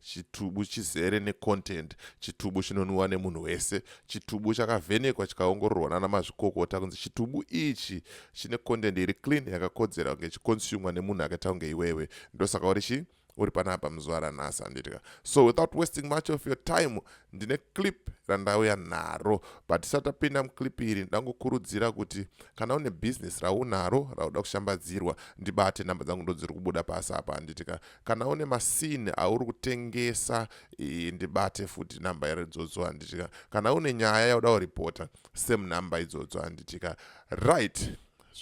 chitubu chizere necontent chitubu chinonwiwa nemunhu wese chitubu chakavhenekwa chikaongororwa nana mazvikokota kunzi chitubu ichi chine content iri clean yakakodzera kunge chiconsumwa nemunhu akaita kunge iwewe ndosaka uri chii uri panapa muzuva ranhasi handitika so without wasting much of your time ndine clip randauya naro but tisati tapinda muclip iri ndangokurudzira kuti kana une business raunaro rauda kushambadzirwa ndibate nhamba dzangu ndodziri kubuda pasi apa handitika kana une masini auri kutengesa ndibate futi number iri idzodzo handitika kana une nyaya yauda kuripota same number idzodzo handitika right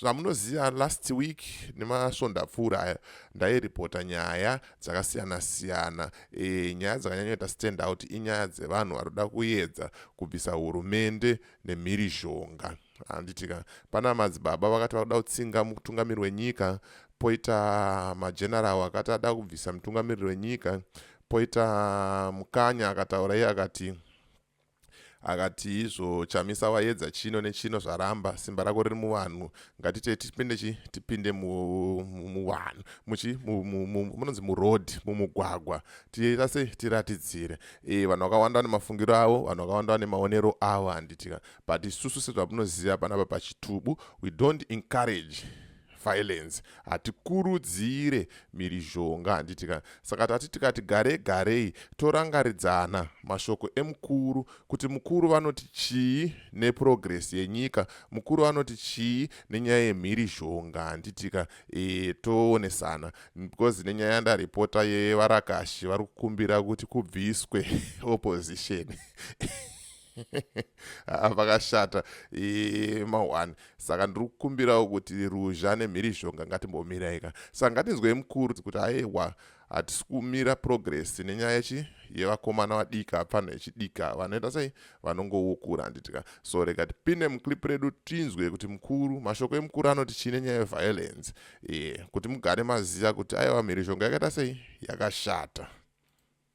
zvamunoziva last week nemasvondo apfuura aya ndairipota nyaya dzakasiyana siyana e, nyaya dzakanyanyoita stand out inyaya dzevanhu vanoda kuedza kubvisa hurumende nemhirizhonga handitika pana madzibaba vakati vakuda kutsinga mutungamiri wenyika poita mageneral akati ada kubvisa mutungamiriri wenyika poita mukanya akataura iye akati akati izvo chamisa wayedza chino nechino zvaramba simba rako riri muvanhu ngatite tipinde chi tipinde muvanhu muchi munonzi muroad mumugwagwa tiita sei tiratidzire e vanhu vakawanda vane mafungiro avo vanhu vakawanda vane maonero avo handitika but isusu sezvamunoziva panapa pachitubu we don't encourage violence hatikurudzire mirizhonga handiti ka saka tati tikati gare garei torangaridzana mashoko emukuru kuti mukuru vanoti chii neprogress yenyika mukuru vanoti chii nenyaya yemhirizhonga handiti ka e, toonesana because nenyaya yandaripota yevarakashi vari kukumbira kuti kubviswe opposition Ah, vakashata mahwani saka ndiri kukumbirawo kuti ruzha nemhirizhonga ngatimbomirayika saka ngatinzwei mukuru kuti aewa hatisi kumira progress nenyaya yechi yevakomana vadika pfanha yechidika vanoita sei vanongoukura handitika so rega tipinde muclip redu tinzwe kuti mukuru mashoko emukuru anoti chii nenyaya yeviolence e, kuti mugare maziva kuti aiwa mhirizhonga yakaita sei yakashata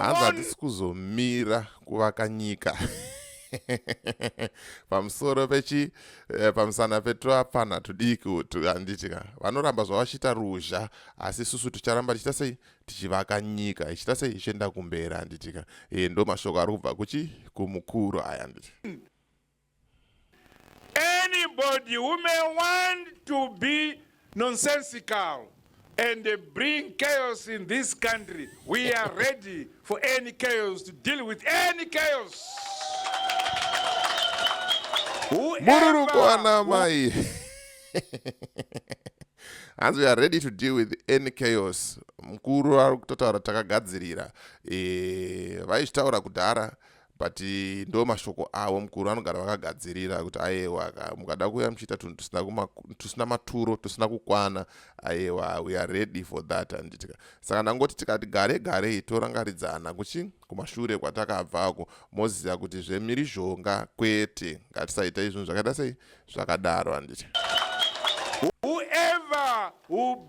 hanzi hatisi kuzomira kuvaka nyika pamusoro pechi eh, pamusana petwapfanha tudiki utu handiti ka vanoramba zvavachita ruzha asi susu ticharamba tichita sei tichivaka nyika ichita sei ichienda kumberi handiti ka e, eh, ndo mashoko ari kubva kuchi kumukuru aya handiti Anybody who may want to be nonsensical and bring chaos in this country, we are ready for any chaos to deal with any chaos. Mururukwana mai. hanzi we are ready to deal with any chaos mukuru ari kutotaura takagadzirira eh, vaizvitaura kudhara but eh, ndo mashoko avo mukuru vanogara vakagadzirira kuti ayewa mukada kuuya muchiita tunhu tusina maturo tusina kukwana ayewa we are ready for that anditika saka ndangoti tikati gare garei torangaridzana kuchi kumashure kwatakabvako moziva kuti zvemirizhonga kwete ngatisaita izvinhu zvakaita sei zvakadaro anditi whoever who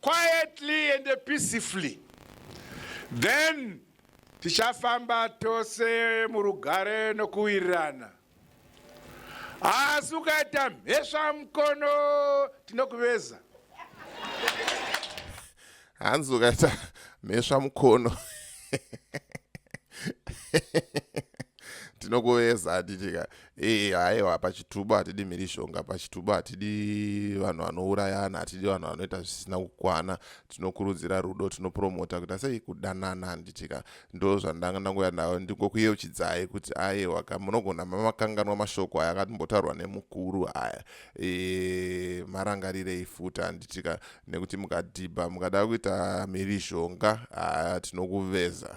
quietly and peacefully then tichafamba tose murugare nokuwirirana asi ukaita mhesva mukono tinokuveza hanzi ukaita mhesva mukono tinokuveza atitika ee haiwa pachitubu hatidi mhirizhonga pachitubu hatidi vanhu vanourayana hatidi vanhu vanoita zvisina kukwana tinokurudzira rudo tinopromota kuita sei kudanana handitika ndo zvandanga ndangoya nayo ndingokuyeuchidzai kuti aiwa ka munogona mamakanganwa mashoko aya akatimbotaurwa nemukuru aya e, marangarirei futi handitika nekuti mukadhibha mukada kuita mhirizhonga haa tinokuveza